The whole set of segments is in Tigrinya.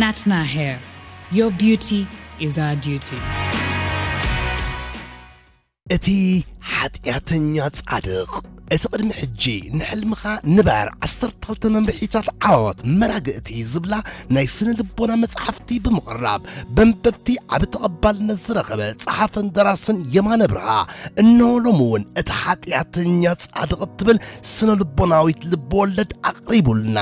ናትና ሄር ዮር ቢዩቲ ኢዝ ኣወር ዲዩቲ። እቲ ሓጢኣተኛ ጻድቕ። እቲ ቅድሚ ሕጂ ንሕልምኻ ንበር ዓሰርተ ክልተ መምርሒታት ዓወት መራግእቲ ዝብላ ናይ ስነ-ልቦና መጽሓፍቲ ብምቕራብ በንበብቲ ዓቢ ተቐባልነት ዝረኸበ ጸሓፍን ደራስን የማነ ብርሃ እነሆ ሎሚ እውን እቲ ሓጢኣተኛ ጻድቕ እትብል ስነ-ልቦናዊት ልብወለድ ኣቕሪቡልና።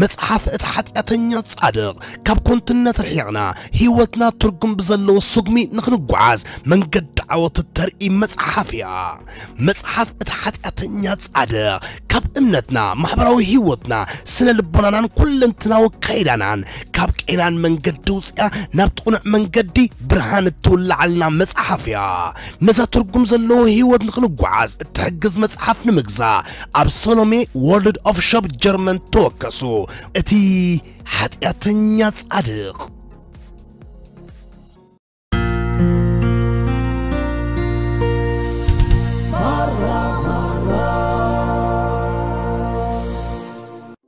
መጽሓፍ እቲ ሓጢኣተኛ ጻድቕ ካብ ኮንትነት ርሒቕና ሕይወትና ትርጉም ብዘለዎ ስጉሚ ንኽንጓዓዝ መንገዲ ዓወት እተርኢ መጽሓፍ እያ። መጽሓፍ እቲ ሓጢኣተኛ ጻድቕ ካብ እምነትና፣ ማሕበራዊ ሕይወትና፣ ስነ ልቦናናን ኩለንትናዊ ኣካይዳናን ካብ ቄናን መንገዲ ውጺኣ ናብቲ ቅኑዕ መንገዲ ብርሃን እትውልዓልና መጽሓፍ እያ። ነዛ ትርጉም ዘለዎ ሕይወት ንኽንጓዓዝ እትሕግዝ መጽሓፍ ንምግዛእ ኣብ ሰሎሜ ወርልድ ኦፍ ሾፕ ጀርመን ተወከሱ እቲ ሓጢኣተኛ ጻድቕ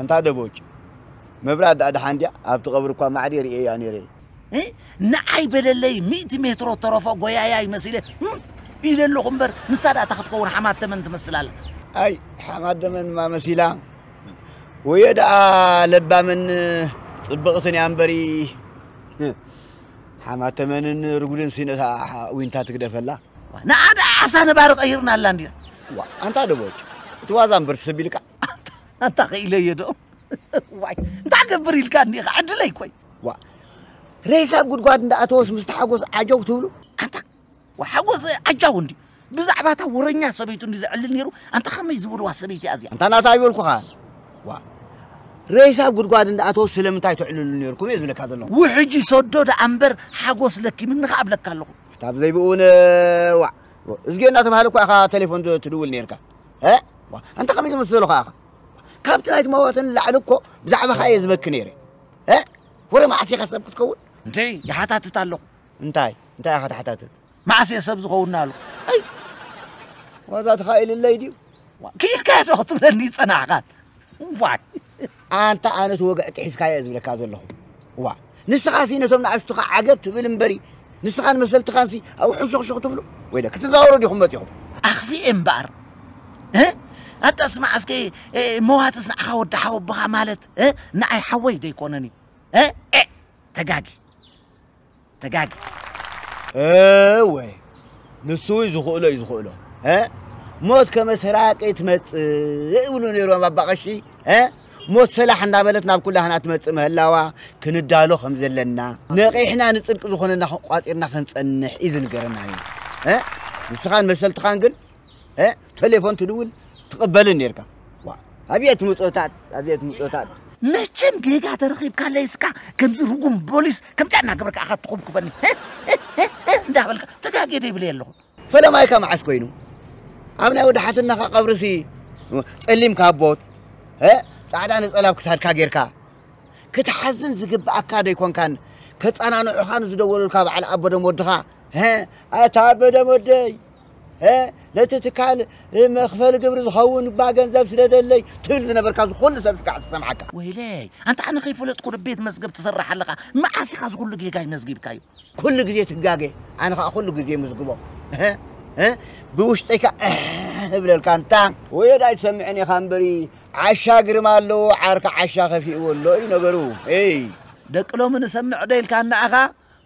ኣንታ ደቦጭ መብራት ዳኣ ደሓን ድያ ኣብቲ ቀብሪ እኳ ማዕድ የርእየያ ነይረ ንዓይ በለለይ ሚእቲ ሜትሮ ተረፎ ጎያያ ይመሲለ ኢለ ኣለኹ እምበር ንሳ ዳኣ እታ ክትከውን ሓማት ተመን ትመስል ኣላ ኣይ ሓማት ደመንማ መሲላ ወዮ ደኣ ለባምን ጽብቕትን እያ እምበሪ ሓማት ተመንን ርጉድን ሲነታ ዊንታ ትግደፈላ ንኣ ደኣ ዓሳ ነባሪ ቀይርናላ እንዲና ዋ ኣንታ ደቦጭ እቲ ዋዛ እምበር ትሰቢልካ ኣንታ ክኢለዮ ዶ ዋይ እንታይ ገብር ኢልካ እኒኻ ዕድለይ ኮይ ዋ ሬሳ ጉድጓድ እንዳኣተወስ ምስ ተሓጎስ ዓጀው ትብሉ ኣንታ ሓጎሰ ዓጃው እንዲ ብዛዕባ እታ ወረኛ ሰበይቱ እንዲ ዘዕልል ነይሩ ኣንታ ከመይ ዝበልዋ ሰበይቲ እያ እዚኣ ኣንታ ናታ ይበልኩኻ ዋ ሬሳ ኣብ ጉድጓድ እንዳኣተወ ስለምንታይ ትዕልሉ ነርኩም እየ ዝብለካ ዘለኹ ውሕጂ ሰዶ ደኣ እምበር ሓጎስ ለኪምኒ ከዓ እብለካ ኣለኹ እታ ብዘይብኡ እውን ዋዕ እዝጌ እናተባሃለ እኳ ኢኻ ቴሌፎን ትድውል ነርካ ኣንታ ከመይ ዝመስሎ ከዓ ኢኻ ካብቲ ናይቲ መዋተ ንላዕሊ እኮ ብዛዕባኻ እየ ዝበኪ ነይረ ወረ መዓስ ኢኻ ሰብ ክትከውን እንተይ ይሓታትት ኣለኹ እንታይ እንታይ ኢኻ ተሓታትት? መዓስ እየ ሰብ ዝኸውን ናሉ? ኣይ ዋዛ ተኻኢልለይ ድዩ? ክኢልካዮ ዶ ክትብለኒ ይጸናሕካን ዋይ ኣንታ ኣነት ወግዕቲ ሒዝካዮ እየ ዝብለካ ዘለኹ ዋ ንስኻ ሲ ነቶም ንኣሽቱኻ ዓገብ ትብል እምበሪ ንስኻን መሰልትኻንሲ ኣብኡ ሕንሸኽሸኽ ትብሉ ወይ ክትዛወሩ ዲኹም መጺኹም ኣኽፊኤ እምበኣር ኣታ ስማዕ እስከ መዋትስ ንዓኻ ወዲ ሓወቦኻ ማለት ንኣይ ሓወይ ዘይኮነን እዩ ተጋጊ ተጋጊ እወ ንሱ እዩ ዝኽእሎ እዩ ዝኽእሎ ሞት ከመሰራቂ ትመፅእ ይብሉ ነይሮም ኣባ ቀሺ ሞት ሰላሕ እንዳበለት ናብ ኩላህና ትመፅእ ምህላዋ ክንዳሎ ከም ዘለና ነቂሕና ንፅድቂ ዝኾነና ቋፂርና ክንፀንሕ እዩ ዝንገረና እዩ ንስኻን መሰልትኻን ግን ተሌፎን ትድውል ትቕበልን ኔርካ ኣብየት ምጾታት ኣብየት ምጾታት መቸም ጌጋ ተረኺብካለይ እስካ ከምዚ ርጉም ቦሊስ ከምዚኣ እናገበርካ ኣኻ ትኹብኩበኒ እንዳበልካ ተጋጌ ደይብለየ ኣለኹ ፈለማይካ መዓስ ኮይኑ ኣብ ናይ ወዲ ሓትናኻ ቀብርሲ ጸሊም ካቦት ጻዕዳ ነጸላ ኣብ ክሳድካ ጌርካ ክትሓዝን ዝግብኣካ ደይኮንካን ከጸናንዑኻ ንዝደወሉልካ በዓል ኣቦደም ወድኻ ኣታ ኣቦደም ወደይ ሀ ነቲ ትካል መክፈሊ ግብሪ ዝኸውን እባ ገንዘብ ስደደለይ ትብል ዝነበርካ እዚ ኩሉ ሰብ ክዓ ዝሰምዓካ ወይለይ ኣንታ ኣነ ከይፈለጥኩ ዶ ቤት መዝገብ ትሰርሕ ኣለኻ መዓስ ኢኻ እዚ ኩሉ ጌጋይ መዝጊብካዮ ኩሉ ግዜ ትጋገ ኣነ ከዓ ኩሉ ግዜ ምዝግቦ ብውሽጠይ ከዓ እብለልካ እንታ ወየድ ኣይትሰምዕን ኢኻ እምበሪ ዓሻ ግርማ ኣለዎ ዓርካ ዓሻ ከፊእዎ ኣሎ እዩ ነገሩ ደቂ ሎሚ ንሰምዕ ዶ ኢልካ እናኣኻ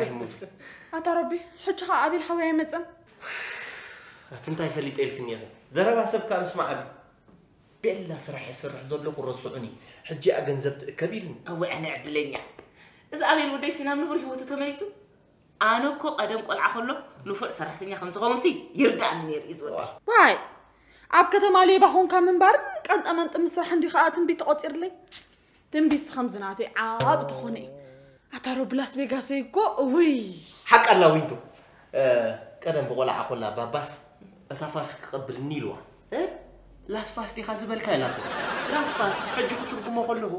ኣይሙት ኣታ ረቢ ሕጂ ከዓ ኣቢል ሓወይ ኣይመፅን ኣቲ እንታይ ፈሊጠ ኢልክን እየ ዘረባ ሰብ ከዓ ምስማዕ ኣቢ ቤላ ስራሕ የስርሕ ዘለኹ ረስዑኒ ሕጂ እያ ገንዘብ ትእከብ ኢልኒ ኣወ ዕነ ዕድለኛ እዚ ኣቤል ወደይ ሲናብ ንቡር ህይወቱ ተመሊሱ ኣነ እኮ ቀደም ቆልዓ ከሎ ንፉዕ ሰራሕተኛ ከም ዝኸውንሲ ይርዳእኒ ነይሩ እዩ ዝወዲ ዋይ ኣብ ከተማ ሌባ ኾንካ ምንባርን ቀንጠመንጢ ምስራሕ እንዲ ከዓ ትንቢት ተቖፂርለይ ትንቢት ከምዚ ናተይ ዓብ ተኾነ እዩ ኣታሮ ብላስ ቬጋስ እኮ እውይ ሓቂ ኣላ ዊንቱ ቀደም ብቆልዓ ኮላ ባባስ እታ ፋስ ክቐብልኒ ኢልዋ ላስፋስ ዲኻ ዝበልካ ኢላቶ ላስፋስ ሕጂ ክትርጉሞ ከለኹ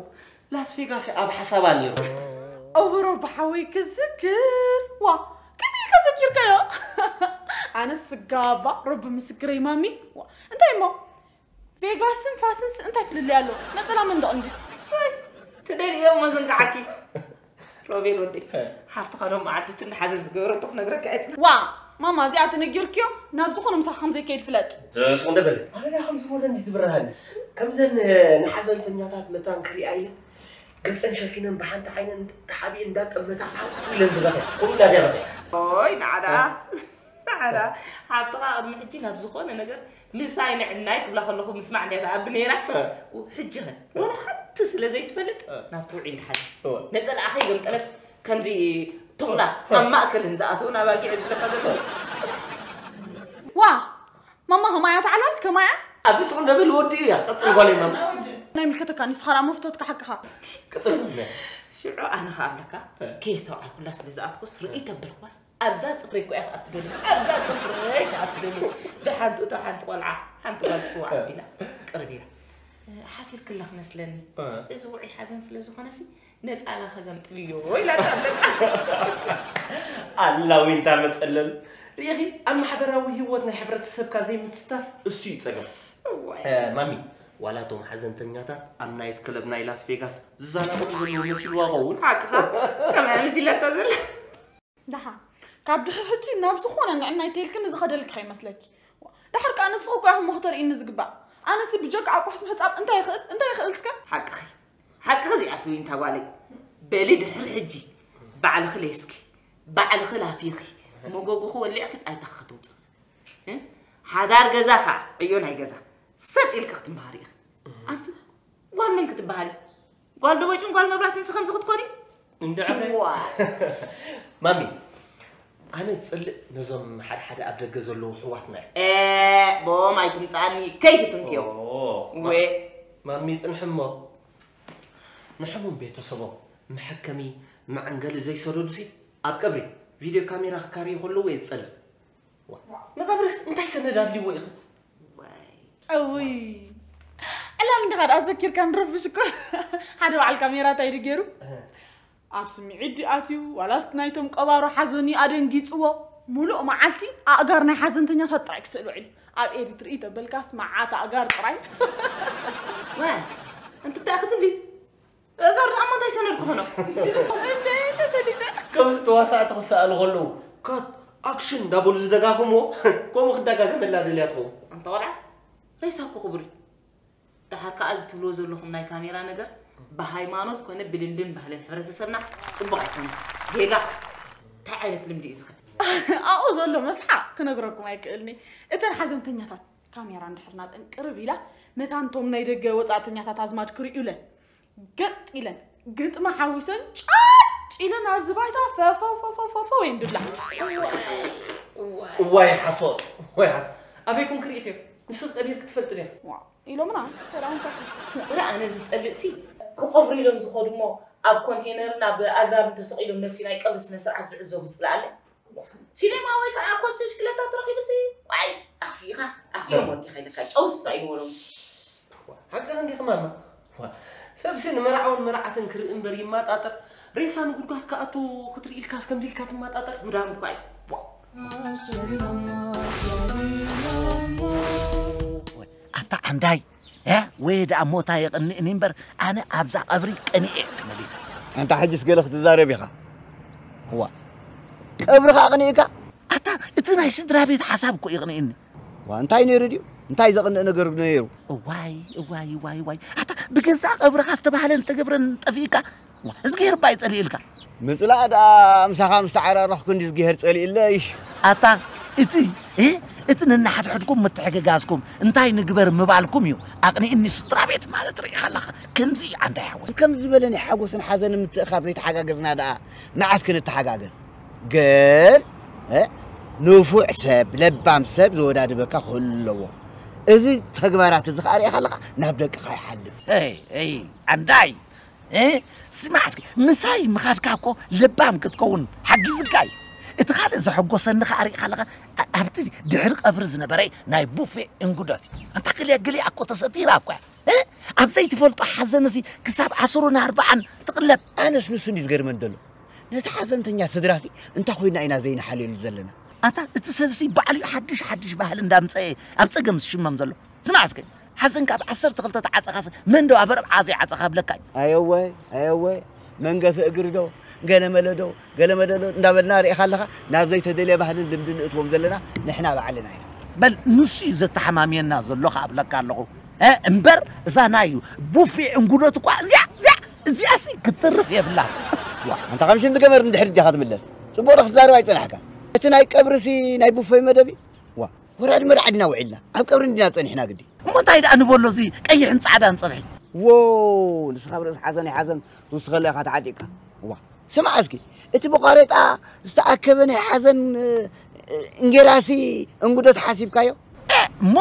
ላስቬጋስ ኣብ ሓሳባ ነይሩ። ኣውሮፓ ሓወይ ክዝክር ዋ ከመይ ኢልካ ዘኪርካዮ ኣነስ ስጋባ ረቢ ምስክረይ ማሚ ዋ እንታይ እሞ ቬጋስን ፋስንስ እንታይ ፍልልይ ኣሎ ነፀላ መንደቕ እንድዩ ትደልዮ መዝንጋዓኪ ሮቤል ወደይ ሓፍትኻ ዶ መዓልቱ ትናሓዘን ዝገበረቶ ክነግረካ ዕፅና ዋ ማማ እዚኣ ተነጊርክዮ ናብ ዝኾነ ምሳኽ ከም ዘይከይድ ፍለጥ ስኹም ደበለ ኣነዳ ከም ዝሞደን ዝብርሃን ከምዘን ንሓዘንተኛታት መታን ክሪኣ ኢለ ገፀን ሸፊነን ብሓንቲ ዓይነን ተሓቢኡ እንዳጠመታ ዓው ኢለን ዝበኸ ከምኡ እንዳደረኸ ኦይ ንዓዳ ባዕላ ሓብትኻ ቅድሚ ሕጂ ናብ ዝኾነ ነገር ምሳይ ንዕናይ ክብላ ከለኹ ምስማዕ እንድያ ትኣቢ ነይራ ሕጂ ኸ ወላ ሓንቲ ስለ ዘይትፈልጥ ናብቲ ውዒ እንዳሓዘ ነፀላኣ ከይገምጠለት ከምዚ ተኹላ ኣብ ማእከልን ዝኣተውን ኣባጊዕ ዝብለካ ዘሎ ዋ ማማ ከማያ ተዓላል ከማያ ኣብዚ ስቕ ደብል ወዲ እያ ቀፅል ጓለይ ማማ ናይ ምልከተካ ንስኻ ራ መፍቶትካ ሓቅኻ ቀፅል ሽዑ ኣነ ኸኣ ኣብለካ ከየስተውዓልኩላ ስለ ዝኣትኩስ ርእይ ተበልኳስ ኣብዛ ጽፍሪ እኮ ኢያ ክኣ ትደሊ ኣብዛ ጽፍረይ ክኣ ትደሊ ደሓንትኡ እታ ሓንቲ ቆልዓ ሓንቲ ጓል ጽዋዕ ኣቢላ ቅርብ ኢላ ሓፊርክላ ክመስለኒ እዚ ውዑይ ሓዘን ስለ ዝኾነሲ ነጻላ ከገምጥልዮ ኢላ ኣላ ዊንታ መጠለል ሪኢኺ ኣብ ማሕበራዊ ህይወት ናይ ሕብረተሰብካ ዘይምስታፍ እሱ እዩ ጸገም ማሚ ዋላ እቶም ሓዘንተኛታት ኣብ ናይት ክለብ ናይ ላስ ቬጋስ ዝዛናግዑ ዘለዉ መሲልዋ ኸውን ሓቅኻ ከመይ መሲላታ ዘላ ደሓ ካብ ድሕር ሕጂ ናብ ዝኾነ ንዕናይ ተይልክኒ ዝኸደልኪ ከይመስለኪ ድሕር ከዓ ንስኹ እኳ ኢኹም መኽተርኢኒ ዝግባእ ኣነሲ ብጀካ ኣቁሑት ምሕፃብ እንታይ ይኽእል እንታይ ይኽእል እስከ ሓቅኺ ሓቅኺ እዚኣስ ዊንታ ጓለይ በሊ ድሕር ሕጂ ባዕልኺ ለይስኪ ባዕልኺ ላፊኺ መጎጎኺ ወሊዕኪ ጣይታኺ ክትውፅእ ሓዳር ገዛ ከዓ ዕዮ ናይ ገዛ ሰጥ ኢልኪ ክትምሃሪ ኢኺ ኣንቲ ጓል መን ክትበሃሊ ጓል ደቦጭን ጓል መብራትን ከምዚ ክትኮኒ እንድዕኸ ማሚ ኣነ ዝፅልእ ነዞም ሓደ ሓደ ኣብ ደገ ዘለዉ ኣሕዋትና እዩ ቦም ኣይትምፅኣኒ ከይትትንክዮ ወ ማሚ ፅንሒ እሞ ንሕሙም ቤተሰቦም መሐከሚ መዐንገሊ ዘይሰደዱሲ ኣብ ቀብሪ ቪድዮ ካሜራ ክካርዩ ከለዉ እየ ዝፀልእ ንቐብርስ እንታይ ሰነድ ኣድልዎ ኢኺ? እውይ ዕላም እንዲኻ ደኣ ዘኪርካ ንረብሽ እኮ ሓደ በዓል ካሜራ እንታይ ኢሉ ገይሩ ኣብ ስምዒት ድዩ ኣትዩ ዋላስ ናይቶም ቀባሮ ሓዞኒ ኣደንጊፅዎ ሙሉእ መዓልቲ ኣእጋር ናይ ሓዘንተኛታት ጥራይ ክስእል ውዒሉ ኣብ ኤዲት ርኢ ተበልካስ መዓት ኣእጋር ጥራይ እንታይ ክትብሊ እበር ንኣሞ እንታይ ሰነድ ክኾኖ ከምዚ ተዋሳእቲ ክሰኣሉ ከለዉ ካት ኣክሽን እንዳበሉ ዝደጋግሞ ከምኡ ክደጋገመላ ደልያ ትኸውን ኣንተ ቆልዓ ሬሳ እኮ ክቡር እዩ ድሓር ከዓ እዚ ትብልዎ ዘለኹም ናይ ካሜራ ነገር ብሃይማኖት ኮነ ብልልን ባህልን ሕብረተሰብና ፅቡቕ ኣይኮነ ጌጋ እንታይ ዓይነት ልምዲ እዩ ዝኸ ኣብኡ ዘሎ መስሓ ክነግረኩም ኣይክእልኒ እተን ሓዘንተኛታት ካሜራ እንድሕር ናብእን ቅርብ ኢላ መታንቶም ናይ ደገ ወፃእተኛታት ኣዝማድ ክርእዩለ ገጥ ኢለን ግጥሚ ሓዊሰን ጫጭ ኢለን ኣብዚ ባይታ ፈፈፈፈፈፈ ወይን ድብላ እዋይ ሓሶት ወይ ሓሶት ኣበይ ኮን ክርኢ ዮ ንስብ ጠቢር ክትፈልጥ ድያ ኢሎምና ሰላምታት እረ ኣነ ዝፀልእ ሲ ክቐብሩ ኢሎም ዝኸዱ እሞ ኣብ ኮንቴነርን ኣብ ኣግራብን ተሰቒሎም ነቲ ናይ ቀብሪ ስነ ስርዓት ዝዕዘቡ ፅላኣለ ሲሌማ ወይ ከኣ ኮስት ሽክለታ ትረኺብሲ ዋይ ኣኽፊእኻ ኣኽፊኦም ወዲኻ ኢለካ ጨው ዝሳዩ ንበሎምሲ ሓቅኺ እንዲኺ ማማ ሰብሲ ንመርዓውን መርዓትን ክርኢ እምበር ይማጣጠር ሬሳ ንጉድጓድ ክኣቱ ክትርኢ ኢልካስ ከምዚ ኢልካ ትማጣጠር ጉዳም እኳ እዩ ኣታ ዓንዳይ ያ ወይ ደኣ ሞታ የቕንእኒ እምበር ኣነ ኣብዛ ቀብሪ ቀኒኤ እየ ተመሊሰ። ኣንታ ሕጅስ ገለ ክትዛረብ ኢኻ እዋ ቀብርኻ ኣቕኒእካ ኣታ እቲ ናይ ስድራ ቤት ሓሳብ እኮ ይቕንእኒ ዋ እንታይ ነይሩ ድዩ እንታይ ዘቕንእ ነገር ነይሩ እዋይ እዋይ እዋይ እዋይ ኣታ ብገዛእ ቀብርኻ ዝተባህለን ዝተገብረን ጠፊእካ እዝግሄር እባ ይጸልኢልካ። ምጽላእ ደኣ ምሳኻ ምስ ተዓራረኽኩ እንድዩ እዝግሄር ጸሊኡለይ። ኣታ እቲ እ እቲ ነንሓድሕድኩም ምትሕግጋዝኩም እንታይ ንግበር ምባልኩም እዩ ኣቕኒኡኒ ስድራቤት ማለት ርኢኻ ኣለኻ ከምዚ እዩ ዓንዳይ ሓወይ ከምዚ ዝበለ ናይ ሓጎስን ሓዘንን ምትእኻብ ዘይተሓጋገዝና ደኣ መዓስ ክንተሓጋገዝ ግን እ ንፉዕ ሰብ ለባም ሰብ ዝወዳድበካ ክህሉ ኣለዎ እዚ ተግባራት እዚ ከዓ ርኢኻ ኣለኻ ናብ ደቅኻ ይሓልፍ ይ ዓንዳይ ስማዕ እስኪ ምሳይ ምኻድካ እኮ ለባም ክትከውን ሓጊዝካ እዩ እቲ ካልእ ዘሐጎሰኒ ከዓ ርኢኻ ኣለኻ ኣብቲ ድሕሪ ቀብሪ ዝነበረ ናይ ቡፌ እንግዶት እዩ ኣንታ ገሊኣ ገሊኣ እኮ ተሰቲራ እኳ እያ ኣብ ዘይትፈልጦ ሓዘን እዚ ክሳብ ዓስሩን ኣርባዓን ትቕለብ ኣነስ ንሱ እንዲ ዝገርመኒ ዘሎ ነቲ ሓዘንተኛ ስድራ ሲ እንታይ ኮይና ኢና ዘይንሓልየሉ ዘለና ኣታ እቲ ሰብሲ ባዕሉ ሓድሽ ሓድሽ ባህሊ እንዳምፀኤ ኣብ ፀገም ዝሽመም ዘሎ ስማዕ እስከ ሓዘንካ ኣብ ዓሰርተ ክልተ ተዓጸኻስ መን ዶ ኣብ ኣርብዓ ዘይዓጸኻ እብለካ እዩ። ኣየወ ኣየወ መንገፊ እግሪ ዶ ገለመለ ዶ ገለመለ ዶ እንዳበልና ርኢኻ ኣለኻ ናብ ዘይተደልየ ባህልን ልምድን ንእትዎም ዘለና ንሕና ባዕልና ኢና። በል ንሱ እዩ ዘተሓማምየና ዘሎ ከኣ እብለካ ኣለኹ። እምበር እዛ ናይ ቡፌ እንጉዶት እኳ እዚኣ እዚኣ እዚኣሲ ክትተርፍ የብላን። ዋእ ኣንታ ከም ሽንቲ ገመድ ንድሕሪት ዲኻ ትምለስ ጽቡቕ ዶ ክትዛረብ ኣይጸናሕካን እቲ ናይ ቀብሪሲ ናይ ቡፌ መደብ እዩ ዋእ። ወራድ መርዓ ድና ውዒልና ኣብ ቀብሪ እንዲና ጸኒሕና ግዲ እሞ እንታይ ደኣ ንበሎ እዚ ቀይሕን ጻዕዳን ጸብሒ ዎው ንስኻ ኣብ ርእሲ ሓዘን ኣይሓዘን ትውስኸላ ኢኻ ተዓጢቕካ ዋ ስማዕ እስኪ እቲ ብዃሬጣ ዝተኣከበ ናይ ሓዘን እንጌራሲ እንጉዶት ሓሲብካዮ እሞ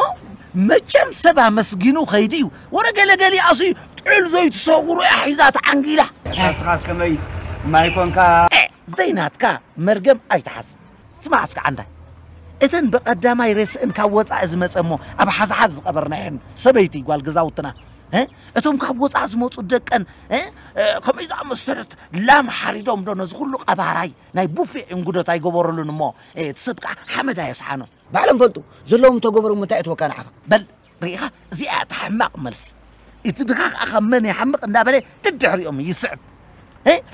መቸም ሰብ ኣመስጊኑ ኸይዲ እዩ ወረ ገለገሊ ኣሱ ጥዑል ዘይትሰውሩ እያ ሒዛ ተዓንጊላ ንስኻስ ከመይ ማይ ኮንካ ዘይናትካ መርገም ኣይትሓዝ ስማዕ እስከ ዓንዳይ እተን ብቀዳማይ ሬስእን ካብ ወፃኢ ዝመፀ እሞ ኣብ ሓዝሓዝ ዝቀበርናየን ሰበይቲ ጓል ገዛውትና እቶም ካብ ወፃኢ ዝመፁ ደቀን ከምኡ ዝኣመሰለት ላም ሓሪዶም ዶ ነዚ ኩሉ ቀባራይ ናይ ቡፌ እንጉዶት ኣይገበረሉን እሞ እቲ ሰብ ከዓ ሓመድ ኣየስሓኖ ባዕሎም ፈልጡ ዘለዎም ተገበሮም እንታይ እትወካ ንዓኻ በል ርኢኻ እዚኣ እያ እታ ሕማቕ መልሲ እቲ ድኻ ከዓ ካብ መን ይሓምቕ እንዳበለ ደድሕሪኦም ይስዕብ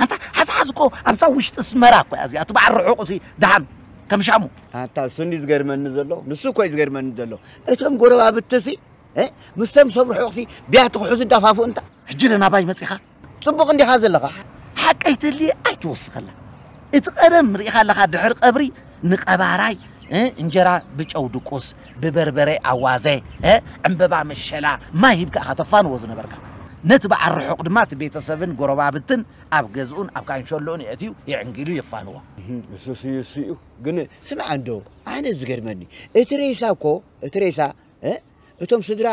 ኣንታ ሓዝሓዝ እኮ ኣብታ ውሽጢ ስመራ እኮ እያ እዚኣ እቲ በዓል ርሑቕ እሲ ድሓን ከም ሻሙ ኣታ እሱኒ ዝገርመኒ ዘሎ ንሱ እኮ እዩ ዝገርመኒ ዘሎ እቶም ጎረባብትሲ ምስቶም ሰብ ርሑቕሲ ቢያቲ ክሕዙ ዳፋፉ እንታ ሕጂ ለናባይ መፂኻ ጽቡቕ እንዲኻ ዘለኻ ሓቀይ ተልየ ኣይትወስኸላ እቲ ቀደም ርኢኻ ኣለኻ ድሕሪ ቀብሪ ንቀባራይ እንጀራ ብጨው ድቁስ ብበርበረ ኣዋዘ ዕምበባ መሸላ ማይ ሂብካ ኢኻ ተፋንዎ ዝነበርካ ነቲ በዓል ርሑቕ ድማ እቲ ቤተሰብን ጎረባብትን ኣብ ገዝኡን ኣብ ካንሸሎኡን የእትዩ የዕንጊሉ የፋንዎ ንሱስ እዩ እሱ እዩ ግን ስምዓ እንዶ ኣነ ዝገርመኒ እቲ ሬሳ እኮ እቲ ሬሳ እቶም ስድራ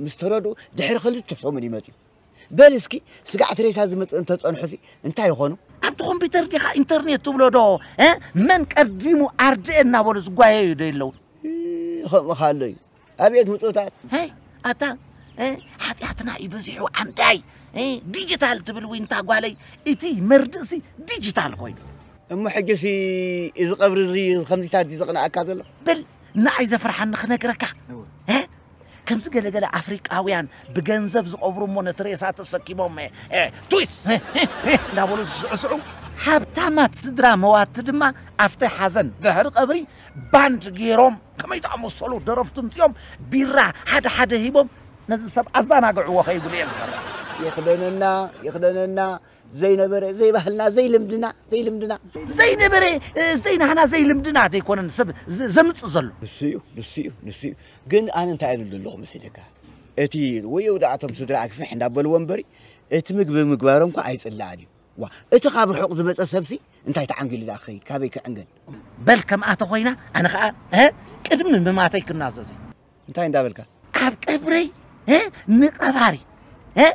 ምስ ተረድኡ ድሕሪ ክልተ ሰሙን ይመፅዩ በል እስኪ ስጋዕ ትሬሳ ዝመጽእ እንተጸንሑሲ እንታይ ይኾኑ? ኣብቲ ኮምፒተር ዲኻ ኢንተርኔት ትብሎ ዶ መን ቀዲሙ ኣርድእ እናበሉ ዝጓየዩ ዶ የለው? ከምኡ ካሎ እዩ ኣብየት ምጡታት ኣታ ሓጢኣትና እዩ በዚሑ ዓንዳይ ዲጂታል ትብል ዊንታ ጓለይ እቲ መርድእሲ ዲጂታል ኮይኑ እሞ ሕጂሲ እዚ ቀብሪ እዚ ከምዚታት ዘቕንኣካ ዘሎ በል ንኣይ ዘፍርሓኒ ክነግረካ ከምዚ ገለ ገለ ኣፍሪቃውያን ብገንዘብ ዝቐብሩ እሞ ነቲ ሬሳ ተሰኪሞም ትዊስ እንዳበሉ ዝስዕስዑ ሃብታማት ስድራ መዋቲ ድማ ኣብቲ ሓዘን ድሕሪ ቀብሪ ባንድ ገይሮም ከመይ ዝኣመሰሉ ደረፍቲ ምፅኦም ቢራ ሓደ ሓደ ሂቦም ነዚ ሰብ ኣዘናግዕዎ ከይብሉ እየ ዝፈርሕ ይኽደነና ይኽደነና ዘይነበረ ዘይባህልና ዘይልምድና ዘይልምድና ዘይነበረ ዘይናህና ዘይልምድና ዘይኮነን ሰብ ዘምፅእ ዘሎ ንሱ እዩ ንሱ እዩ ንሱ እዩ ግን ኣነ እንታይ እብል ዘለኹ መሲለካ እቲ ወይ እውዳእቶም ስድራ ኣግፍሕ እንዳበልዎ እምበሪ እቲ ምግቢ ምግባሮም እኳ ኣይፅላኣን እዩ ዋ እቲ ካብ ርሑቕ ዝመፀ ሰብሲ እንታይ ተዓንጊሉ ዳ ክኸይድ ካበይ ክዕንገል በል ከምኣ ተኾይና ኣነ ከዓ ቅድሚ ምማተይ ክናዘዝ እዩ እንታይ እንዳበልካ ኣብ ቀብረይ እ፣ ንቀባሪ እ፣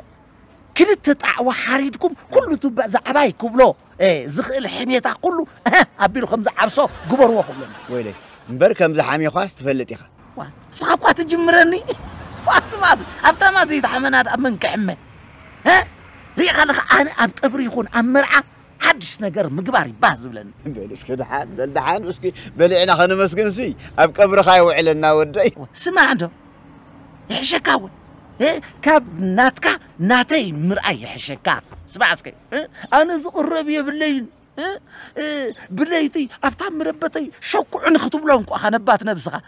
ክልተ ጣዕዋ ሓሪድኩም ኩሉ ትባእ ዛዕባይ ክብሎ እ፣ ዝኽእል ሕሜታ ኩሉ እ፣ ኣቢሉ ከም ዝዓብሶ ግበርዎ ክብለኒ ወይለይ እምበር ከምዚ ሓሚዃስ ትፈልጥ ኢኻ ዋ፣ ንስኻ እኳ ትጅምረኒ ዋስማስ ኣብታ ማት ዘይተሓመና ድኣ መን ክሕመ እ፣ ርኢኻ ኣለኻ ኣነ ኣብ ቀብሪ ይኹን ኣብ መርዓ ሓድሽ ነገር ምግባር እዩ ባህ ዝብለኒ። በል እስኪ ደሓን በል ደሓን እስኪ በሊዕና ከነመስግንሲ ኣብ ቀብርኻ የውዕለና ወደይ። ስማዕ እንዶ ይሕሸካ እውን እ፣ ካብ ናትካ ናተይ ምርኣይ ይሕሸካ። ስማዕ እስከ እ፣ ኣነ ዝቕረብ የብለይን እ፣ እ፣ ብለይቲ ኣብታ መረበተይ ሸኩዑ ንክትብሎም ቋ ከነባት ነብስኻ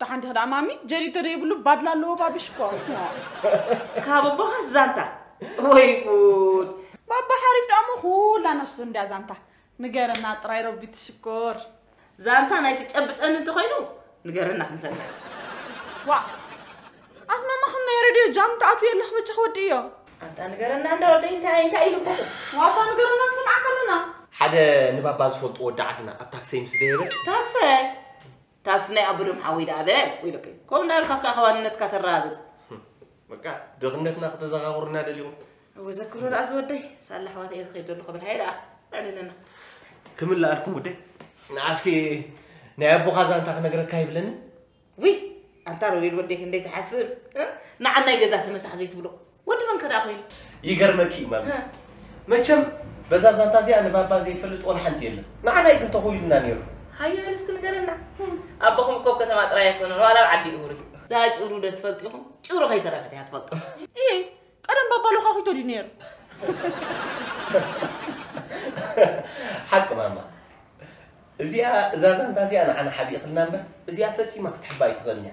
ደሓን ዲኺ ደኣ ማሚ? ጀሪገ ዘይብሉ ባድላ ኣለዎ ባብሽ እኮ። ካብ ኣቦኻስ ዛንታ ወይ ጉድ! ባባ ሓሪፍ ደኣ እሞ ኩላ ነፍሱ እንድያ ዛንታ። ንገረና ጥራይ ረቢ ትሽኮር። ዛንታ ናይ ዝጨብጠኒ እንተኾይኑ ንገረና ክንሰምዕ። ዋእ ኣፍ ማማ ከመይ ረድዮ ጃም ትኣትው የለኽ በጃኽ ወድእዮ። ኣታ ንገረና እንዳ ወደይ እንታይ እንታይ ኢሉ እኮ። ዋታ ንገረና ንሰምዓካ ኣለና። ሓደ ንባባ ዝፈልጡ ወዲ ዓድና ኣብ ታክሰይ ምስ ደየበ። ታክሰይ ታክሲ ናይ ኣቡዶም ሓወይ ደኣ በል ወይለከ ከምኡ እንዳበልካ ከኣ ከዋንነትካ ተረጋግጽ። በቃ ድኽነትና ክተዘኻኽሩና ደሊኹም እወ ዘክሮ ደኣ ዝወደይ ሳላ ኣሕዋት እየ ዝኸይድ ዘለኹ በል ሃየ ደኣ ዕልለና ክምልኣልኩም ጉዳይ ንዓስኪ ናይ ኣቦኻ ዛንታ ክነግረካ ይብለኒ ውይ ኣንታ ሮቤል ወደይ ክንደይ ትሓስብ እ? ንዓናይ ገዛ ተመሳሕ ዘይትብሎ ወዲ መን ከ ደኣ ኮይኑ? ይገርመኪ እዩ ማሚ መቸም በዛ ዛንታ እዚኣ ንባባ ዘይፈልጥ ወላ ሓንቲ የለን ንዓና እዩ ግን ተኹኢሉና ነይሩ። ሃየ በል እስኪ ንገረና ኣቦኹም እኮ ኣብ ከተማ ጥራይ ኣይኮነን ዋላ ኣብ ዓዲ እውር እዩ። እዛ ጭሩ ዶ ትፈልጡ ኢኹም? ጭሩ ከይተረፈት እያ ትፈልጦ። እይ ቀደም ባባ ሎኻኺቶ ድዩ ነይሩ? ሓቂ ማማ እዚኣ እዛ ዛንታ እዚኣ ንዓና ሓቢእክልና እምበር እዚኣ ፈጺማ ክትሕባ ኣይትኽእልን እያ።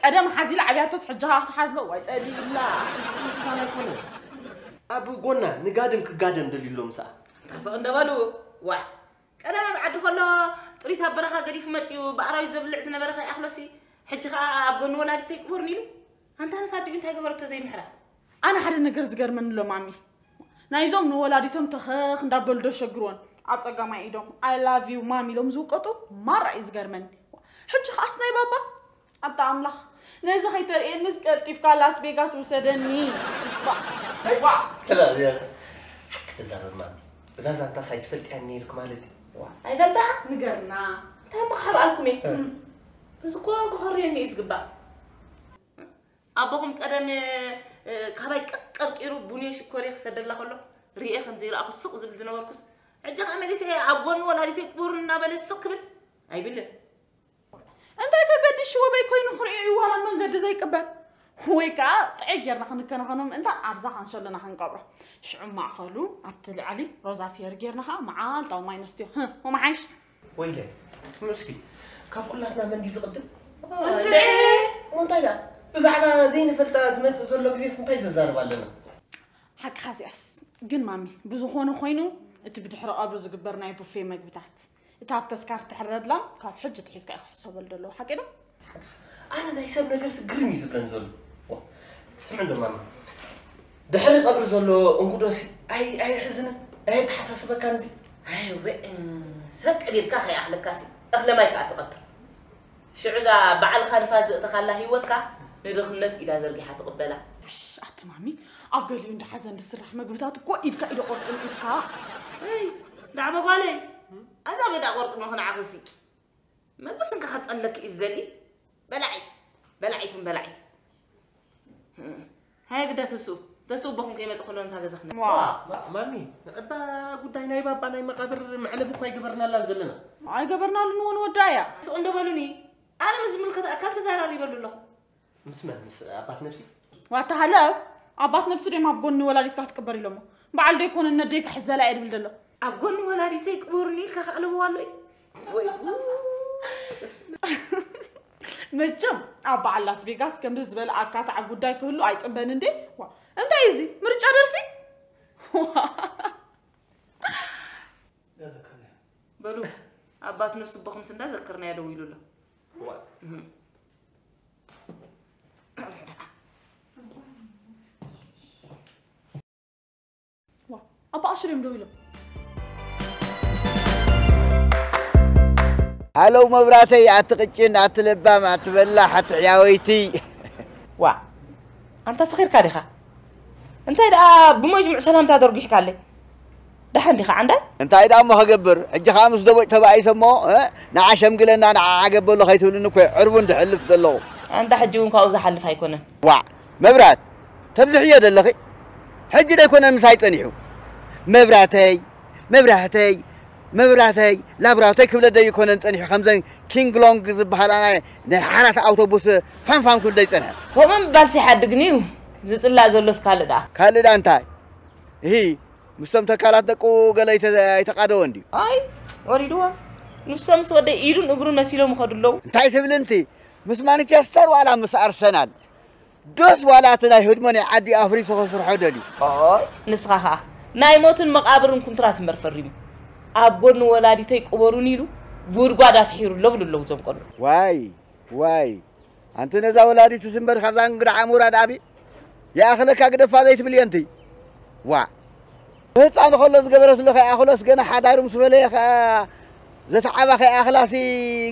ቀደም ሓዚላ ዓብያቶስ ሕጂ ከኣ ክትሓዝሎ እዋይ ጸሊኢላ። ምሳና ኣይኮነን ኣብ ጎና ንጋድም ክጋደም ደልዩ ኣሎ ምስኣ። ተሰቕ እንደበሉ ዋሕ ቀደም ኣብ ዓዲ ከሎ ጥሪት ኣብ በረኻ ገዲፉ መጺኡ ብኣራዊት ዘብልዕ ዝነበረ ከይኣኽሎሲ ሕጂ ከኣ ኣብ ጎኒ ወላዲተይ ቅቡርን ኢሉ ኣንታ ነታ ኣዲኡ እንታይ ገበረቶ ዘይምሕራ ኣነ ሓደ ነገር ዝገርመኒ ኣሎ ማሚ ናይዞም ንወላዲቶም ተኸኽ እንዳበሉ ዶ ሸግርዎን ኣብ ጸጋማይ ኢዶም ኣይ ላቭ ዩ ማሚ ኢሎም ዝውቀጡ ማራ እዩ ዝገርመኒ ሕጂ ከኣስ ናይ ባባ ኣታ ኣምላኽ ነዚ ከይተርእየኒስ ቀልጢፍካ ላስ ቬጋስ ውሰደኒ ክትዛረብ ማሚ እዛ ዛንታ ሳይ ትፈልጥያ ነይርክ ማለት ኣይፈልጣ ንገርና እንታይ ማሓብ ኣልኩም እየ እዚ ኮን ክኸርየኒ እዩ ዝግባእ ኣቦኹም ቀደም ካባይ ቀርቂሩ ቡንየ ሽኮርየ ክሰደላ ከሎ ርኤ ከም ዘይረኣኹ ስቕ ዝብል ዝነበርኩስ ሕጂ ከ መሊሰ ኣብ ጎኒ ወላዲተይ ክቡር እናበለ ስቕ ክብል ኣይብልን እንታይ ከገድሽ ወበይ ኮይኑ ክርእዮ እዩ ዋላ መንገዲ ዘይቅበል ወይ ከዓ ጥዕይ ጌርና ክንከናኸኖ ምእንታ ኣብዛ ካንሸሎና ክንቀብሮ ሽዑ ማእኸሉ ኣብቲ ልዕሊ ሮዛ ፌር ጌርና ከዓ መዓልታዊ ማይ ነስትዮ ወመሓይሽ ወይለ ስምዑ እስኪ ካብ ኩላትና መን ድዩ ዝቕድም እንታይ ደኣ ብዛዕባ ዘይንፈልጣ ዝመፅእ ዘሎ ግዜስ እንታይ ዘዛርብ ኣለና ሓቅኻ እዚኣስ ግን ማሚ ብዝኾነ ኮይኑ እቲ ብድሕሪ ቀብሪ ዝግበር ናይ ቡፌ መግብታት እታ ተስካር ትሕረድላ ካብ ሕጂ ትሒዝካ እዩ ክሕሰበሉ ዘለዎ ሓቂ ዶ ኣነ ናይ ሰብ ነገርስ ግርም እዩ ዝብለን ዘሎ ስምዕ እንዶ ማማ ድሕሪ ቀብሪ ዘሎ እንጉዶሲ ኣይሕዝንን ኣየተሓሳስበካን እዚ ኣይወ ሰብ ቀቢርካ ከይኣኽለካሲ እኽለ ማይ ከዓ ትቐብር ሽዑ እዛ ባዕልኻ ንፋስ ዘእተኻላ ህይወትካ ንድኽነት ኢዳ ዘርጊሓ ትቕበላ ኣቲ ማሚ ኣብ ገሊኡ እንዳ ሓዘን ዝስራሕ መግብታት እኮ ኢድካ ኢደ ቆርጥም ኢድካ ዳዕበ ጓለይ ኣዛ በዳ ቆርጥሞ ክንዓኽሲ መበስ እንካ ከጸለኪ እዩ ዝደሊ በላዒ በላዒት ውን በላዒ ሃየግዳ ተስኡ ተስኡ ቦኹም ከይመጽእ ከሎ ንታ ገዛ ክነ ማሚ እባ ጉዳይ ናይ ባባ ናይ መቃብር መዕለቢ እኳ ኣይገበርናላን ዘለና ኣይገበርናሉን እውን ወዳ እያ ስኡ እንደበሉኒ ኣነ ምስ ዝምልከት ኣካል ተዘራሪበሉ ኣለኹ ምስ መን ምስ ኣባት ነብሲ ዋታ ሃለ ኣባት ነብሲ ደም ኣብ ጎኒ ወላዲትካ ክትቅበር ኢሎሞ በዓል ዶ ይኮነ ነደይ ክሕዘላ እየ ድብል ደሎ ኣብ ጎኒ ወላዲተይ ቅበሩኒ ኢልካ ከዕልብዋ ኣሎ እዩ ወይ መቸም ኣብ በዓል ላስ ቬጋስ ከምዚ ዝበለ ኣካታዕ ጉዳይ ክህሉ ኣይፅበን እንዴ ዋ እንታይ እዩ እዚ ምርጫ ደርፊ ዋ በሉ ኣባት ነብሲ ቦኹምስ እንዳ ዘክርናዮ ደው ኢሉ ኣሎ ሃሎ መብራተይ ኣቲ ቅጭን ኣቲ ለባም ኣቲ በላሕ ኣቲ ሕያወይቲ ዋ ኣንታ ሰኺርካ ዲኻ እንታይ ደኣ ብመጅሙዕ ሰላምታ ደርጒሕካለይ ደሓን ዲኻ ዓንዳይ? እንታይ ድኣሞ ክገብር ሕጂ ከኣ ምስ ደቦጭ ተባኢሰ እሞ ንዓ ሸምግለና ንዓዓ ገበሎ ከይትብልኒ እኮ እየ ዕርቡን ድሕልፍ ዘለኹ። ኣንታ ሕጂ ውን ካብኡ ዝሓልፍ ኣይኮነን። ዋዕ መብራት ተብዝሕዮ ደለኺ ሕጂ ዶ ኣይኮነን ምሳይ ጸኒሑ መብራተይ መብራህተይ መብራተይ ላብራቶይ ክብለ ዶ ኣይኮነን ጸኒሑ ከምዘን ኪንግ ሎንግ ዝበሃላ ናይ ናይ ሓራት ኣውቶቡስ ፋንፋን ክብል ዶ ይጸንሐ። ከምኡ ምባልስ ይሓድግን'ዩ ዝጽላእ ዘሎስ ካልእ ድኣ። ካልእ ድኣ እንታይ እሂ ምስቶም ተካላት ደቁ ገለ ኣይተቓደወን ድዩ? ኣይ ወሪድዎ ንሶም ምስ ወደይ ኢዱን እግሩን መሲሎም ይኸዱ ኣለዉ። እንታይ ትብል እንቲ ምስ ማንቸስተር ዋላ ምስ ኣርሰናል ዶስ ዋላ እቲ ናይ ህድሞ ናይ ዓዲ ኣፍሪሱ ከስርሖ ደልዩ ኣይ ንስኻ ኸኣ ናይ ሞትን መቓብርን ኩንትራት እምበር ፈሪሙ ኣብ ጎኒ ወላዲተይ ቅበሩኒ ኢሉ ጉድጓድ ኣፍሒሩ ኣሎ ብሉ ኣለዉ እዞም ቆልዑ። ዋይ ዋይ ኣንቲ ነዛ ወላዲቱ ስምበር ካብዛ እንግዳ ዓሞራ ድኣቢ ይኣኽለካ ግደፋ ዘይትብል የንቲ ዋ ህፃን ከሎ ዝገበረትሉ ከይኣኽሎስ ገና ሓዳሩ ምስ ፈለየ ከኣ ዘተዓባ ከይኣኽላሲ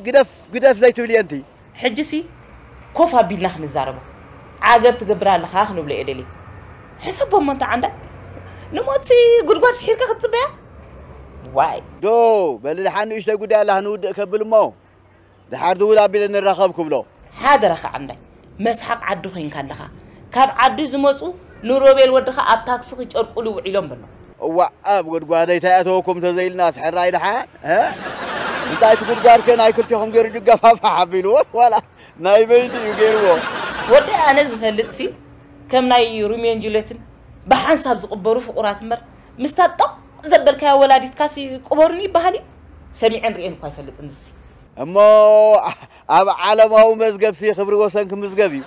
ግደፍ ግደፍ ዘይትብል የንቲ ሕጂሲ ኮፍ ኣቢልና ክንዛረቦ ዓገብ ትገብር ኣለኻ ክንብሎ እየ ደልየ ሕሰቦ እሞ እንተ ዓንዳ ንሞትሲ ጉድጓድ ፍሒርካ ክትፅበያ ዋይ ዶ በልልሓ ንእሽተይ ጉዳይ ኣላ ክንውድእ ከብል እሞ ድሓር ድውል ኣቢለ ንራኸብ ክብሎ። ሓደራ ክዓንዳይ መስሓቕ ዓዲ ኮይንካ ኣለኻ ካብ ዓዲ ዝመጹ ንሮቤል ወድኻ ኣብ ታክሲ ክጨርቁሉ ውዒሎም በሎ። እዋእ ኣብ ጉድጓደይ ታይ ኣተወኩም ተዘይልናስ ሕራይ ድሓን እንታይ እቲ ጉድጓድከ ናይ ክልቴኹም ገይሩ ድገፋፋሕ ኣቢልዎስ ዋላ ናይ በይኑ እዩ ገይርዎ። ወደይ ኣነ ዝፈልጥሲ ከም ናይ ሩሜን ጁሌትን ብሓንሳብ ዝቕበሩ ፍቑራት እምበር ምስታ ጦቕ ዘበልካዮ ወላዲትካሲ ቅበሩኒ ይበሃል እዩ? ሰሚዐን ርእየን እኳ ኣይፈልጥን እዝሲ። እሞ ኣብ ዓለማዊ መዝገብሲ ክብሪ ወሰን ክምዝገብ እዩ።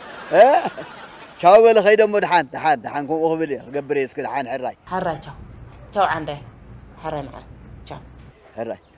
ቻው በሊ ከይደ እሞ ደሓን ደሓን ደሓን ከምኡ ክብል እየ ክገብር እየ እስኪ ደሓን ሕራይ። ሕራይ ቻው ቻው ዓንዳይ ሕራይ መዓር ቻው። ሕራይ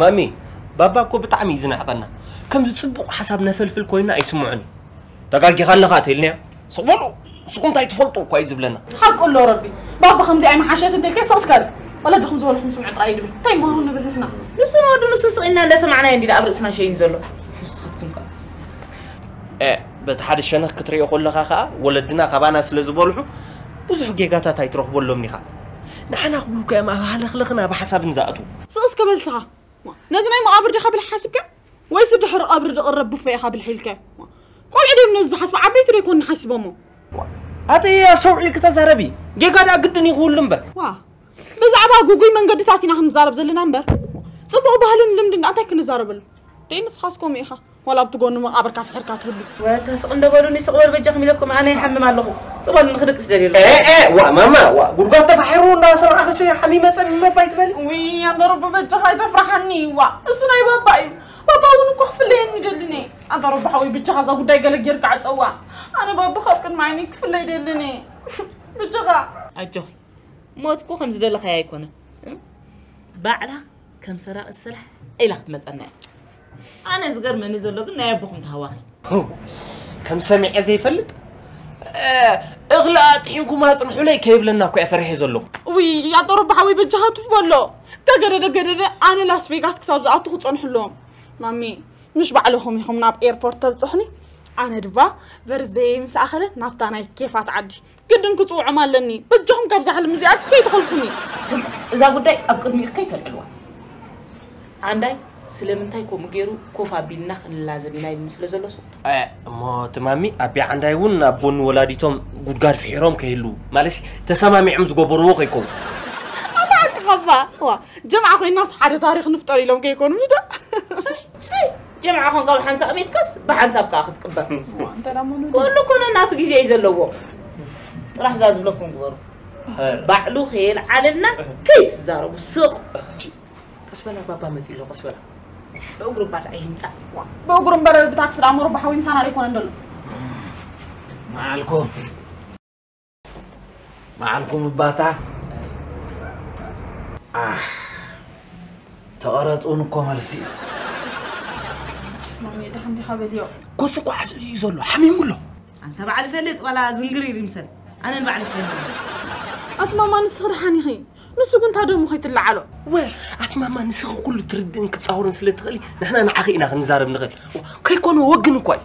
ማሚ ባባ እኮ ብጣዕሚ እዩ ዝንዕቀና ከምዚ ፅቡቅ ሓሳብ ነፈልፍል ኮይንና ኣይስምዖን እዩ። ተጋጊኻ ኣለኻ ተኢልናዮ ስቕ በሉ ንስኹም እንታይ ትፈልጡ እኳ እዩ ዝብለና ሓቁ ኣሎ ረቢ ባባ ከምዚ ኣይመሓሸት እንተልካ ስቕ ስካል ወለድኹም ዝበልኹም ስምዑ ጥራይ ይድብል እንታይ ምሃሩ ንብል ንሕና ንሱ ንወዱ ንሱ ስቕ ኢልና እንዳሰማዕናዮ እንዲና ኣብ ርእስና ሸይኑ ዘሎ ንስኻትኩም ከ በቲ ሓደ ሸነኽ ክትሪኦ ከለኻ ከዓ ወለድና ካባና ስለ ዝበልሑ ብዙሕ ጌጋታት ኣይትረኽበሎምን ኢኻ ንዓና ክብሉካ እዮም ኣብ ሃለኽለኽን ኣብ ሓሳብን ዝኣትዉ ስቕስ ከበልስኻ ነዚ ናይ መቓብር ዲኻ ብል ሓስብካ ወይሲ ድሕሪ ቐብሪ ድቕረብ ቡፌ ኢኻ ብልሒ ኢልከ? ቆልዑ ድዮም ነዚ ዝሓስቡ ዓበይቲ ዶ ኣይኮኑን ሓሲቦሞ? ኣተይ ኣስተውዒልኪ ተዛረቢ ጌጋ ድኣ ግድን እዩ ክህሉ እምበር። ዋእ ብዛዕባ ጉጉይ መንገድታት ኢና ክንዛረብ ዘለና እምበር ጽቡቕ ባህልን ልምድን ድኣ እንታይ ክንዛረበሉ? ደይ ንስኻስ ከምኡ ኢኻ ዋላ ኣብቲ ጎኑ መቓብርካ ፍሒርካ ትህሉ። ወታ ስቕ እንዶ በሉኒ ስቕ በሉ በጃኹም ኢለኩም ኣነ ይሓምም ኣለኹ። ጸበል ንክድቅስ ደልየ ኣለኹ። ኤእ ዋእ ማማ ዋእ ጉድጓድ ተፋሒሩ እንዳ ሰማዕኽሲ ሓሚመ ጸሚመ እባ ኣይትበሊ። ውይ ኣንታ ረቢ በጃኻ ኣይተፍርሓኒ ዋእ እሱ ናይ ባባ እዩ ባባ እውን እኮ ክፍለየኒ ይደልን እየ ኣንታ ረቢ ሓወይ ብጃኻ እዛ ጉዳይ ገለ ጌርካ ዕጸዋ ኣነ ባባ ካብ ቅድሚ ዓይነይ ክፍለ ይደልን እየ ብጃኻ ኣጆኺ ሞት እኮ ከም ዝደለኻዮ ኣይኮነን ባዕላ ከም ሰራቒት ስራሕ ኢላ ክትመጸና እያ ኣነ ዝገርመኒ ዘሎ ግን ናይ ኣቦኹም ታህዋኺ። ከም ሰሚዐ ዘይፈልጥ እኽሊ ኣጥሒንኩም ኣጽንሑለይ ከይብለና እኮ እየ ፈሪሐ ዘለኹ። ውይ ኣቶ ረባ ሓወይ በጃኻ ቱፍ በሎ ተገደደ ገደደ ኣነ ላስ ቬጋስ ክሳብ ዝኣቱ ክጸንሑ ኣለዎም ማሚ ምሽ ባዕለኹም ኢኹም ናብ ኤርፖርት ተብጽሑኒ ኣነ ድማ በርዝደየይ ምስ ኣኸለ ናብታ ናይ ኬፋት ዓዲ ግድን ክጽውዖም ኣለኒ በጃኹም ካብዛ ሕልሚ እዚኣ ከይትኸልፉኒ ስምዑ እዛ ጉዳይ ኣብ ቅድሚኡ ከይተልዕልዋ ዓንዳይ ስለምንታይ ከምኡ ገይሩ ኮፍ ኣቢልና ክንላዘብ ኢና ኢልኒ ስለ ዘሎ ስቁ እሞ እቲ ማሚ ኣቢ ዓንዳይ እውን ኣብ ጎኒ ወላዲቶም ጉድጋድ ፍሒሮም ከይህልዉ ማለት ተሰማሚዖም ዝገበርዎ ከይከውን ኣታዓቅኻባ ዋ ጀምዓ ኮይናስ ሓደ ታሪክ ንፍጠር ኢሎም ከይኮኑ ዶ ጀምዓ ኮን ካብ ሓንሳእ ሚትካስ ብሓንሳብ ከኣ ክትቅበር ኩሉ እኮ ነናቱ ግዜ እዩ ዘለዎ ጥራሕ እዛ ዝብለኩም ግበሩ ባዕሉ ከየልዓለልና ከይትዛረቡ ስቕ ቀስ በላ ባባ መፂ ኣሎ ቀስ በላ ብእግሩ እምበር ኣይምፃእ ብእግሩ እምበር ብታክሲ ደኣ ሞሮባ ሓዊ ምሳና ዘይኮነ እንደሎ መዓልኩም በዓልኩም እባታ ዓሕ ተቐረፅ እውን እኮ መልሲ እዩ ማሜ ድሓን ዲኻ በልዮ ኮሱ ኳዓስ እዚ እዩ ዘሎ ሓሚሙ ኣሎ ኣንተ በዓል ፈልጥ ዋላ ዝንግሪ ይምሰል ኣነ ንባዕሊ ፈልጥ ኣቲ ማማ ንስኺ ድሓን ኢኺ ንሱ ግን እንታ ደሙ ከይትለዓሎ ወል ኣቲ ማማ ንስኺ ኩሉ ትርድእን ክትፃውርን ስለ ትኽእሊ ንሕና ንዓኺ ኢና ክንዛረብ ንኽእል ከይኮነ ወግን እኳ እዩ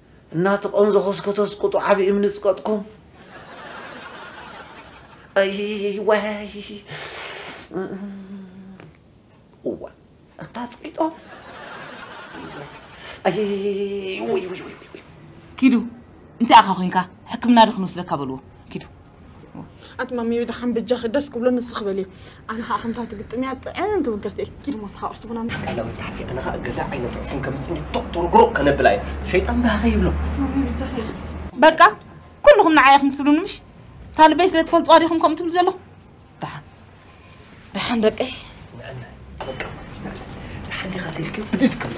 እናተቆንዘኾስኮቶስ ቁጡ ዓቢ እምኒ ጽቀጥኩም ኣይይይይ ዋይ እዋ ኣንታ ጽቂጦም ኣይይይይ ውይ ውይ ውይ ኪዱ እንታይ ኢኻ ኮንካ ሕክምና ዶ ክንወስደካ በልዎ ኪዱ ኣቲ ማሚዮ ድሓን ብጃኺ ደስ ክብሎ ንስኺ በልዮ ኣነ ከዓ ከምታ ትግጥም እያ ጥዕምቲ እውን ከስተ እየ ኪድ ሞስኻ ቁርሲ ቡና ምስ ቃላ ወይ ታሕቲ ኣነ ከዓ ገዛ ዓይነት ዕፉን ከምፅእ እንዲ ቶቅ ተርጉሮ ከነብላ እየ ሸይጣን ብሃኸ ይብሎ ማሚዮ ብጃኺ በቃ ኩልኹም ንዓይ ኢኹም ትብሉኒ ምሽ እታ ልበይ ስለ ትፈልጥዋ ዲኹም ከምኡ ትብሉ ዘለኹም ደሓን ደሓን ደቀይ ንዕና በቃ ንሓንቲ ካ ተልክዮ ብድድ ክብል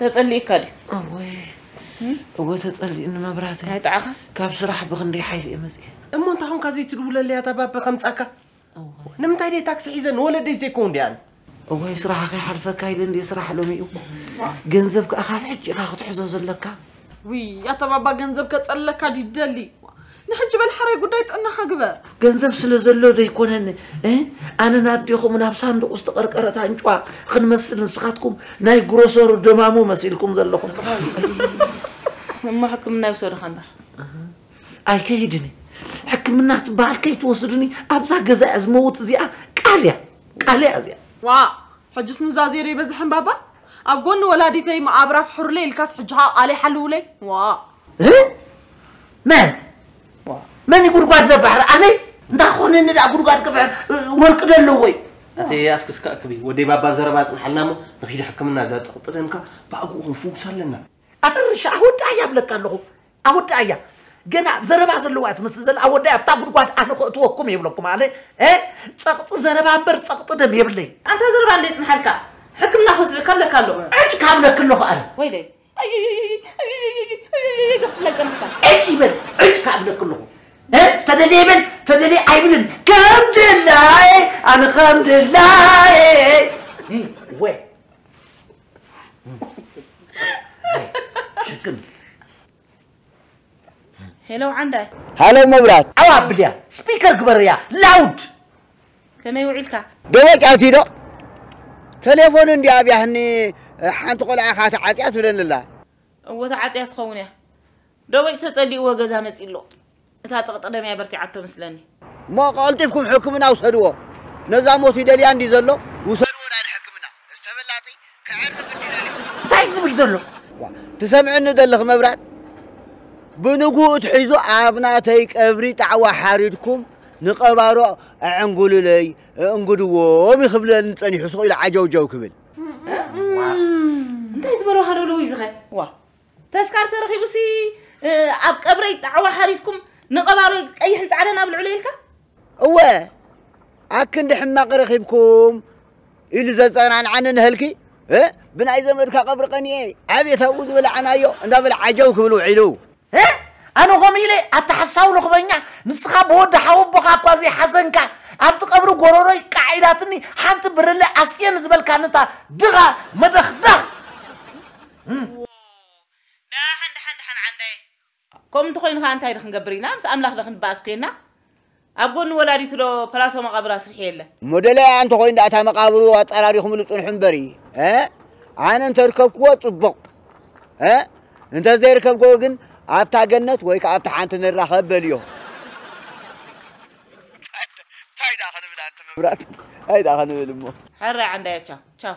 ተጸሊእካ ድዩ? እወ እወ ተጸሊእኒ መብራህተ። እንታይ ጠዓኻ? ካብ ስራሕ ብኽንደይ ሓይሊ እየ መጺኤ። እሞ እንታይ ኮንካ ዘይትድውለለይ ኣታ ባቢ ከምጻካ? ንምንታይ ደይ ታክሲ ሒዘ ንወለደይ ዘይከውን ደይ ኣነ? እዋይ ስራሓ ከይሓልፈካ ኢለ እንድየ ስራሕ ሎሚ'ዩ ገንዘብ ከኣ ካብ ሕጂ ኢኻ ክትሕዞ ዘለካ። ውይ ኣታ ባባ ገንዘብ ከጸልለካ ድዩ ትደሊ ንሕጂ በል ሓረይ ጉዳይ ጥዕናኻ ግበር ገንዘብ ስለ ዘሎ ዶ ኣይኮነን እ? ኣነን ኣዴኹም ናብ ሳንዱቕ ዝተቐርቀረት ኣንጭዋ ክንመስል ንስኻትኩም ናይ ግሮሰሩ ደማሙ መሲልኩም ዘለኹም እሞ ሕክምና ይውሰድኻ እምበር ኣይከይድን እየ ሕክምና ትበሃል ከይትወስዱኒ ኣብዛ ገዛ እያ ዝመውት እዚኣ ቃል እያ ቃል እያ እዚኣ ዋ ሕጅስ ኑዛዜ ዶ ኣይበዝሐን ባባ ኣብ ጎኒ ወላዲተይ መቓብራ ፍሕሩለይ ኢልካስ ሕጂ ከኣ ቃለይ ሓልዉለይ ዋእ። እህ መን መን እዩ ጉድጓድ ዘፍሕር ኣነይ እንታይ ክኾነኒ ደኣ ጉድጓድ ክፍሕር ወርቂ ዶ ኣለዎ እዩ እቲ ኣፍክስካ እክቢ ወደይ ባባ ዘረባ ኣጽንሓልና እሞ ንኺድ ሕክምና ዘጥቕጥደምካ ብኣግኡ ክንፍውስ ኣለና ኣጥርሻ ኣወዳእያ እብለካ ኣለኹ ኣወዳእያ ገና ዘረባ ዘለዋ ትመስል ዘላ ኣወዳእያ ኣብታ ጉድጓድ ኣነ ክእትወኩም የብለኩም ኣነ እ ፀቕጢ ዘረባ እምበር ፀቕጢ ደም የብለይ ኣንታ ዘረባ እንደ ይጽንሓልካ ሕክምና ክወስደልካ ኣለካ ኣሎ ዕጭ ካብለክ ኣለኹ ኣነ ወይለይ ክትብላ ይጸንሕካ ዕጭ ይበል ዕጭ ካብለክ ኣለኹ እ ተደልየ ይበል ተደልየ ኣይብልን ከም ድላየ ኣነ ከም ድላየ እ ወ ሽክም ሄሎ ዓንዳይ ሃሎ መብራት ዓው ኣብልያ ስፒከር ግበርያ ላውድ ከመይ ውዒልካ ደወጭ ኣትዶ ቴሌፎን እንዲ ኣብያህኒ ሓንቲ ቆልዓ ኢኻ ተዓፅያ ትብለኒ ኣላ እወ ተዓፅያ ትኸውን እያ ደዊት ተጸሊእዎ ገዛ መጺኡ ኣሎ እታ ጥቕጢ ደም እያ በርቲዓቶ ምስለኒ። እሞ ቀልጢፍኩም ሕክምና ውሰድዎ ነዛ ሞት ይደልያ እንድዩ ዘሎ ውሰድዎ ናይ ንሕክምና እዚ ተበላጺ ከዕርፍ እንድዩ ደልዩ። እንታይ እዩ ዝብል ዘሎ? ዋእ ትሰምዕኒ ደለኺ መብራት ብንጉኡ ኣትሒዙ ኣብ ናተይ ቀብሪ ጣዕዋ ሓሪድኩም ንቀባሮ ኣዕንጉሉለይ እእንጉድዎም እዩ ክብለኒ ጸኒሑ ስቕ ኢሉ ዓጀውጀው ክብል። ዋእ እንታይ ዝበሎ ሃለውለው እዩ ዝኸ ዋእ ተስካር ተረኺቡሲ ኣብ ቀብረይ ጣዕዋ ሓሪድኩም ንቐባሮይ ቀይሕን ጻዕዳን ኣብልዕሉ ኢልካ እወ ኣክንዲ ሕማቕ ረኺብኩም ኢሉ ዘጸናንዓኒ ንህልኪ ብናይ ዘመድካ ቀብሪ ቀኒኤ ዓብየት ኣብኡ ዝበላዕናዮ እንዳበለ ዓጀው ክብል ውዒሉ ኣነ ከምኡ ኢለ ኣተሓሳዊ ልኽበኛ ንስኻ ብወዲ ሓወቦኻ እኳ ዘይሓዘንካ ኣብቲ ቀብሪ ጎረሮይ ቃዕ ኢላትኒ ሓንቲ ብርለ ኣስትየ ንዝበልካኒ እታ ድኻ መደኽዳኽ ዋው ዳሓን ዳሓን ዳሓን ዓንዳየ። ከምኡ እንተኾይኑ ከኣ እንታይ ዶ ክንገብር ኢና ምስ ኣምላኽ ዶ ክንበኣስ ኮና ኣብ ጎኒ ወላዲቱ ዶ ፓላሶ መቃብር ኣስርሑ የለ። እሞ ደላያ እንተኾይኑ ደኣ እታ መቃብሩ ኣጸራሪኹምሉ ጽንሑ እምበሪ ኣነ እንተርከብክዎ ጽቡቕ እንተዘይርከብክዎ ግን ኣብታ ገነት ወይ ከኣ ኣብታ ሓንቲ ንራኸብ በልዮ። ታይ ዳኣ ክንብል ኣንቲ መብራት ታይ ዳኣ ክንብል እሞ። ሕራይ ዓንዳየ ቻው ቻው።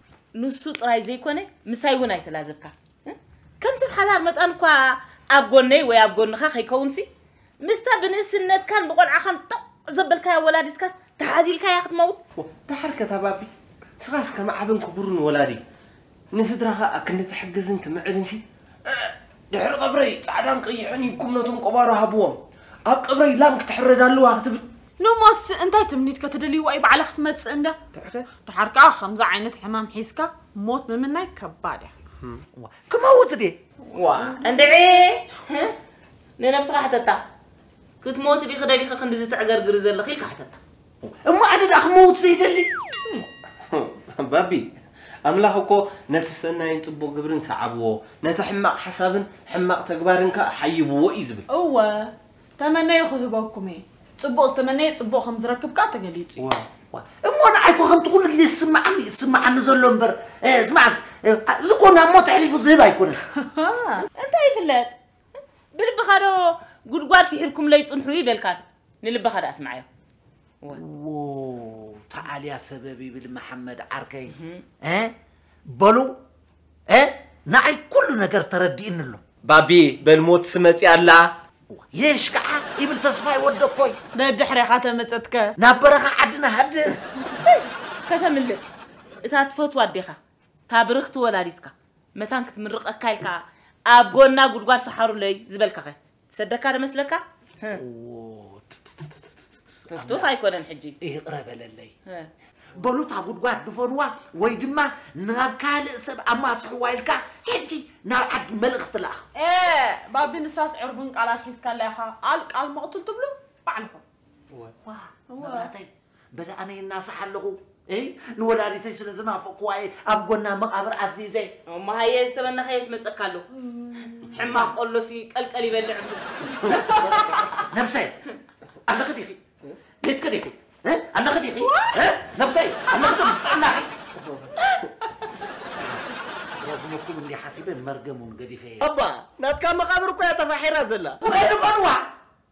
ንሱ ጥራይ ዘይኮነ ምሳይ እውን ኣይተላዘብካ ከም ሰብ ሓዳር መጠን እኳ ኣብ ጎነይ ወይ ኣብ ጎንኻ ከይከውንሲ ምስታ ብንእስነትካን ብቆልዓኻን ጠቕ ዘበልካያ ወላዲትካስ ተሓዚልካያ ክትመውት ደሓር ከታባቢ ስኻስ ከም ዓብን ክቡርን ወላዲ ንስድራኻ ኣክንዲ ትሕግዝን ትምዕድንሲ ድሕሪ ቀብረይ ጻዕዳን ቀይሕን ሂብኩም ነቶም ቆባሮ ሃብዎም። ኣብ ቀብረይ ላም ክትሕረድ ኣለዋ ክትብል። ንሞስ እንታይ ትምኒት ከተደልይዋ እዩ ባዕላ ክትመጽእ እንዳ። ድሓር ከኣ ከምዚ ዓይነት ሕማም ሒዝካ ሞት ምምናይ ከባድ እያ። ክመውት ድየ? ዋእ እንድዒ ንነብስኻ ሕተታ። ክትሞቲ ዲኺ ደሊኺ ክንድዚ ተዕገርግሪ ዘለኺ ኢልካ ሕተታ። እሞ ኣነ ደኣ ክመውት ዘይደሊ ባቢ ኣምላኽ እኮ ነቲ ሰናይን ጽቡቕ ግብርን ሰዓብዎ ነቲ ሕማቕ ሓሳብን ሕማቕ ተግባርን ከኣ ሓይብዎ እዩ ዝብል እወ ተመነዩ ክህበኩም እየ ጽቡቕ ዝተመነየ ጽቡቕ ከም ዝረክብ ከኣ ተገሊጹ እዩ ዋው ዋው እሞ ንዓይ እኮ ከምቲ ኩሉ ግዜ ዝስምዓኒ ዝስምዓኒ ዘሎ እምበር እ፣ ስማዕ እዚ እኮ ናብ ሞት ኣሕሊፉ ዝህብ ኣይኮነን እንታይ ይፍለጥ ብልብኻ ዶ ጉድጓድ ፊሒርኩምለይ ጽንሑ ይበልካ ንልብኻ ደኣ ስምዓዮ ዎ ተኣልያ ሰበብ ይብል መሓመድ ዓርከይ እ በሉ እ ንዓይ ኩሉ ነገር ተረዲእኒ ኣሎ ባቢ በል ሞትሲ መጺኣ ኣላ ሌሽ ከዓ ይብል ተስፋይ ወደኮይ ደድሕሬኻ ተመጸትከ ናብ በረኻ ዓድና ሃድር ከተምልጥ እታ ትፈትዋ ኣዴኻ እታ ብርኽቲ ወላዲትካ መታን ክትምርቐካ ኢልካ ኣብ ጎና ጉድጓድ ፈሓሩለይ ዝበልካኸ ትሰደካ ዶ መስለካ? ቱፍቱፍ ኣይኮነን ሕጂ ይቕረ በለለይ በሉ እታ ጉድጓድ ድፈንዋ ወይ ድማ ናብ ካልእ ሰብ ኣማስሕዋ ኢልካ ሕጂ ናብ ዓዲ መልእኽቲ ለኣኽ። ኤእ ባቢ ንሳስ ዕርቡን ቃላት ሒዝካላ ኢኻ ቃል ቃል መቕቱል ትብሉ ባዕልኹም። እወ መብራህተይ በለ ኣነ ይናሳሕ ኣለኹ እይ ንወላዲተይ ስለ ዝናፈቅኩዋ እየ ኣብ ጎና መቓብር ኣዚዘ እሞ ሃየ ዝተመናኸዮስ መፀካ ኣሎ ሕማቕ ቆሎሲ ቀልቀል ይበልዕ እምሉ ነብሰይ ኣለኺ ዲኺ ቤትኪ ዲኺ እ? ኣለኺ ዲኺ እ? ነብሰይ ኣለኺ ዶ ምስ ጥዕናኺ ረግመኩም እንዲ ሓሲበ መርገሙን ገዲፈ እየ እባ ናትካ መቓብር እኮ እያ ተፋሒራ ዘላ ናይ ድፈንዋ